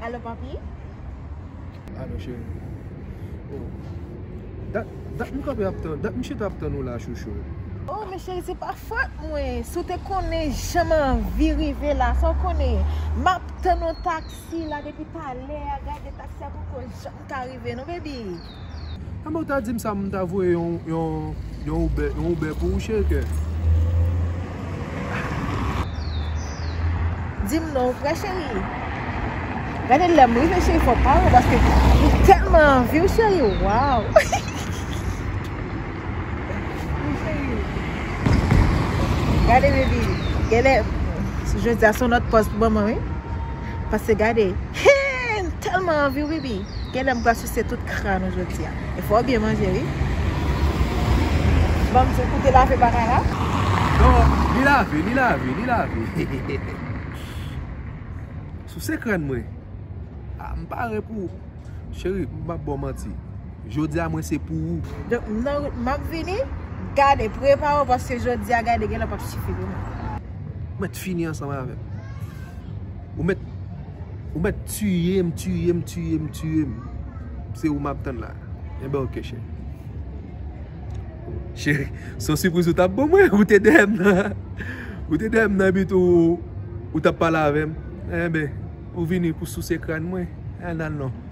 Alo papi Alo cheri Oh Dat dat m kanpe ap tann dat m chita ap tann ou la chouchou Oh men cheri se pa fòt mwen Si w te konnen jan m anvi rive la sa w konnen Map tann yon taksi la depi talè a gade taksi a poko janm ta rive nou baby. An men w ta di m sa m ta voye yon Uber pou ou cheriken. Di m non vre cheri. Gade lè m rive cheri fò w pa wè paske m telman anvi w cheri waww. Gade baby. Gade. Jodi a son lòt pòz pou manman wi. Pase gade Hee m telman anvi wi bi Genlè m pral souse tout kran nou jodia E fò w byen manje wi Banm diw kou te lave bagay la Non li lave li lave li lave Souse kran mwen Ah m pare pou ou Cheri m pap baw manti Jodia mwen se pou ou Donk m nan wout map vini Gade prepare w paske jodia gade genlè pap sifi pou mwen. Mèt fini ansanm avèm. Ou met Ou met tuyem tuyem tuyem tuyem Se ou map tann la Enben ok cheri Cheri Se yon sipriz ou tap ban mwen Ou te dèyèm nan Ou te dèyèm nan epi tou Ou tap pale avèm Enben Ou vini pou souse krann mwen Ennan non